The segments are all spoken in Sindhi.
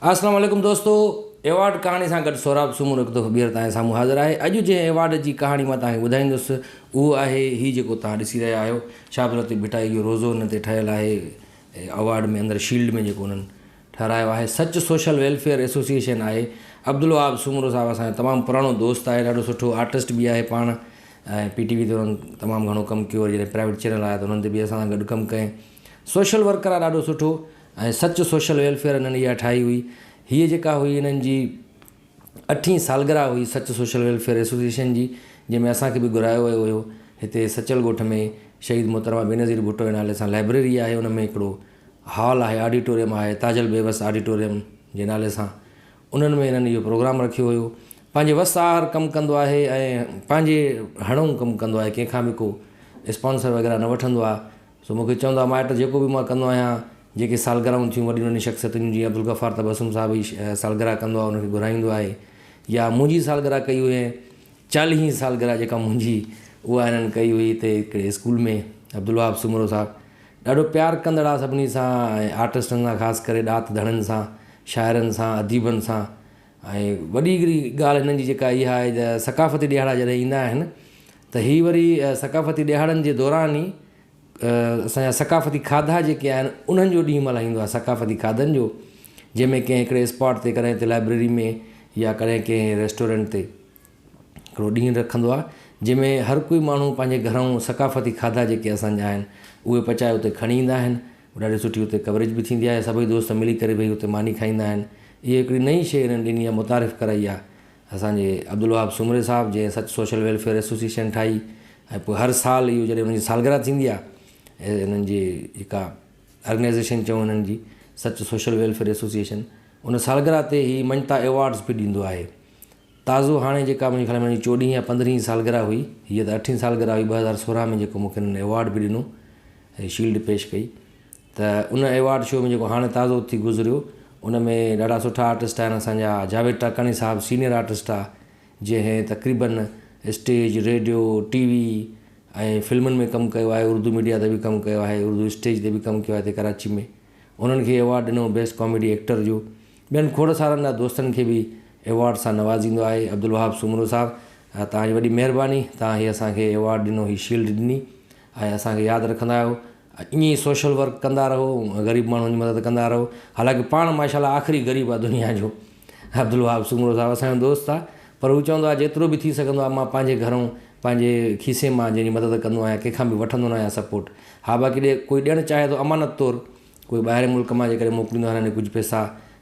السلام عليڪم دوستو ايوارڊ ڪهاڻي سان گڏ سهراب سومرو هڪ دفعو ٻيهر توهان جي سامهون حاضر آهي اڄ جنهن ايوارڊ جي ڪهاڻي مان توهان کي ٻڌائيندس اهو آهي هي جيڪو توهان ڏسي رهيا آهيو شاهد لطيف ڀٽائي جو روزو هن تي ٺهيل آهي ايوارڊ ۾ اندر شيلڊ ۾ جيڪو انهن ٺهرايو آهي سچ سوشل ويلفيئر ايسوسيئيشن آهي عبدالوهاب سومرو صاحب اسان جو تمام پراڻو دوست آهي ڏاڍو سٺو آرٽسٽ به آهي پاڻ ۽ پي ٽي وي تي انهن تمام گهڻو ڪم ڪيو جڏهن پرائيويٽ چينل آيا ته انهن تي به اسان سان گڏ ڪم ڪئي سوشل ورڪر آهي ڏاڍو سٺو ۽ سچ سوشل ويلفيئر انهن اها ٺاهي هئي. هيء جيڪا هئي انهن جي اٺين سالگرهه هئي سچ سوشل ويلفيئر ايسوسيئيشن جي جنهن ۾ اسان کي به گهرايو ويو هيو. هتي سچل ڳوٺ ۾ شهيد محترمه بينظير ڀٽو جي نالي سان لائبريري آهي ان ۾ هڪڙو هال آهي آڊيٽوريم آهي تاجل بيوس آڊيٽوريم جي نالي سان انهن ۾ انهن اهو پروگرام رکيو هيو. پنهنجي وس آهر ڪم ڪندو آهي ۽ پنهنجي هڙئون ڪم ڪندو آهي ڪنهن کان به ڪو اسپانسر وغيره نه وٺندو آهي سو مون کي چوندا مائٽ جيڪو به مان ڪندو آهيان جيڪي سالگرهون ٿيون وڏين وڏين شخصيتن جون جيئن عبدالغفار تبسم صاحب هي سالگرهه ڪندو آهي ان کي گهرائيندو آهي يا منهنجي سالگرهه ڪئي هئي چاليهين سالگرهه جيڪا منهنجي اها هنن ڪئي هئي هتي هڪڙي اسڪول ۾ عبدالوهاب سومرو صاحب ڏاڍو پيار ڪندڙ آهي سڀني سان ۽ آرٽسٽن سان خاص ڪري ڏات ڌڻين سان شاعرن سان اديبن سان ۽ وڏي هڪڙي ڳالهه هنن جي جيڪا اها آهي ته ثقافتي ڏيهاڙا جڏهن ايندا آهن ته هي وري ثقافتي ڏهاڙن جي دوران ئي اسان جا ثقافتي کاڌا جيڪي آهن انهن جو ڏينهن ملهائيندو آهي ثقافتي کاڌن جو جنهن ۾ ڪنهن هڪڙي اسپاٽ تي ڪڏهن ته لائبريري ۾ يا ڪڏهن ڪنهن ريسٽورنٽ تي هڪڙو ڏينهن رکندو آهي جنهن ۾ هر ڪوئي ماڻهو پنهنجي گهرائون ثقافتي کاڌا جيڪي اسان جا آهن اهي پچائي اتي کڻي ايندا آهن ڏاڍي سٺي اتي ڪوريج به ٿيندي آهي سڀئي دوست ملي ڪري ڀئي اتي ماني کائيندا آهن اهي هڪڙي نئين شئي هنن ڏني آهي متعارف ڪرائي آهي اسان جي عبدالوهاب سومري صاحب جنهن سچ سوشل ويلفيئر ايسوسيئيشن ٺاهي ۽ پوء هر سال اهو جڏهن ان جي سالگرهه ٿيندي آهي ۽ انهن جي جيڪا آرگنائيزيشن چئون انهن جي سچ سوشل ويلفيئر ايسوسيئيشن ان سالگرهه تي هي مڃتا ايوارڊز به ڏيندو آهي تازو هاڻي جيڪا منهنجي خيال ۾ هن جي چوڏهين يا پندرهين سالگرهه هئي هيء ته اٺين سالگرهه هئي ٻه هزار سورهن ۾ جيڪو مونکي هنن ايوارڊ به ڏنو ۽ شيلڊ پيش ڪئي ته ان ايوارڊ شو ۾ جيڪو هاڻي تازو ٿي گذريو ان ۾ ڏاڍا سٺا آرٽسٽ آهن اسان جا جاويد ٽاڪاڻي صاحب سينئر آرٽسٽ آهي جنهن تقريبن اسٽيج ريڊيو ٽي وي ۽ فلمن ۾ ڪم ڪيو آهي اردو ميڊيا تي به ڪم ڪيو آهي اردو اسٽيج تي به ڪم ڪيو آهي هتي ڪراچي ۾ انهن کي ايوارڊ ڏنو بيسٽ ڪاميڊي ايڪٽر جو ٻين کوڙ سارن جا دوستن کي به ايوارڊ سان نوازيندو آهي عبدالوهاب سومرو صاحب توهان جي وڏي مهرباني توهان هي اسان کي ايوارڊ ڏنو هي شيلڊ ڏني ۽ اسان کي ياد رکندا آهيو ائين ئي سوشل ورڪ ڪندا رهو غريب ماڻهن جي مدد ڪندا رهو حالانڪه پاڻ ماشاءالله آخري غريب آ دنيا جو عبدالوهاب سومرو صاحب اسان جو دوست آ پر هو چوندو آ جيترو به ٿي سگهندو آ مان پنهنجي گهرئون پنهنجي کيسي مان جنهن جي مدد ڪندو آهيان ڪنهن کان به وٺندو نه آهيان سپورٽ ها باقي ڏي ڪوئي ڏيڻ چاهي ٿو امانت طور ڪوئي ٻاهرين ملڪ مان جي ڪڏهن موڪليندو آهيان ڪجهه پئسا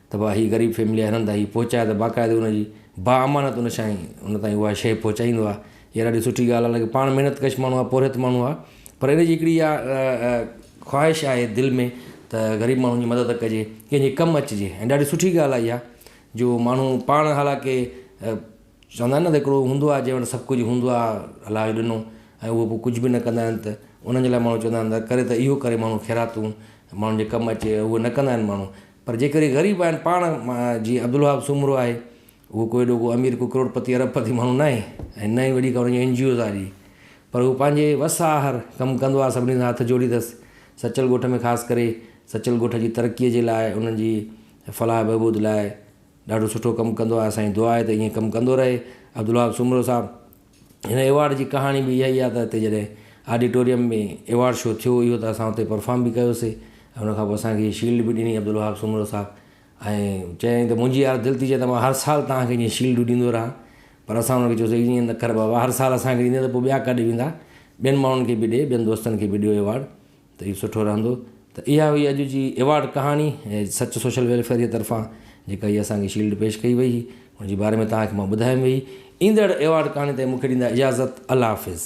ته ڀا هي غريب فيملي آ هنن تائين هي پهچاء ته باقاعده ان جي با امانت ان سائين ان تائين اها شيء پهچائيندو آ هيء ڏاڍي سٺي ڳالهه آهي، حالانڪه پاڻ محنت ڪش ماڻهو آهي، پورهيت ماڻهو آهي، پر ان جي هڪڙي اها خواهش آهي دل ۾ ته غريب ماڻهن جي مدد ڪجي، ڪنهن جي ڪم اچجي ۽ ڏاڍي سٺي ڳالهه آهي اها جو ماڻهو پاڻ حالانڪه چوندا آهن نه ته هڪڙو هوندو آهي جنهن وٽ سڀ ڪجهه هوندو آهي الله جو ڏنو ۽ اهو پوء ڪجهه به نه ڪندا آهن ته انهن جي لاء ماڻهو چوندا آهن ته ڪري ته اهو ڪري ماڻهو خيراتون ماڻهن جي ڪم اچي اهو نه ڪندا آهن ماڻهو پر جيڪڏهن غريب آهن پاڻ جيئن عبدالوهاب سومرو آهي هو ڪو ايڏو ڪو امير، ڪو ڪروڙپتي، ارب پتي ماڻهو ناهي ۽ نه ئي وڏي ڪا ان جي اين جي اوز آ جي پر هو پنهنجي وس آهر ڪم ڪندو آ سڀني سان هٿ جوڙي ٿس سچل ڳوٺ ۾ خاص ڪري سچل ڳوٺ جي ترقي جي لاء انهن جي فلاح بهبود لاء ڏاڍو سٺو ڪم ڪندو آ اسان جي دعا آهي ته ائين ڪم ڪندو رهي عبدالوهاب سومرو صاحب هن ايوارڊ جي ڪهاڻي به اها ئي آ ته هتي جڏهن آڊيٽوريم ۾ ايوارڊ شو ٿيو اهو ته اسان اتي پرفارم به ڪيوسي ۽ ان کان پوء اسان کي شيلڊ به ڏني عبدالوهاب سومرو صاحب ۽ چيائين ته منهنجي يار دل ٿي چاهي ته مان هر سال توهان کي جيئن شيلڊون ڏيندو رهان پر اسان هن کي چيوسين ايئن نه ڪر بابا هر سال اسان کي ڏيندين ته پوء ٻيا ڪاڏي ويندا ٻين ماڻهن کي به ڏي ٻين دوستن کي به ڏيو ايوارڊ ته اهو سٺو رهندو ته اها هئي اڄ جي ايوارڊ ڪهاڻي ۽ سچ سوشل ويلفيئر جي طرفان جيڪا هي اسان کي شيلڊ پيش ڪئي وئي هئي ان جي باري ۾ توهان کي مان ٻڌايم وئي ايندڙ ايوارڊ ڪهاڻي تائين مون کي ڏيندا اجازت الله حافظ.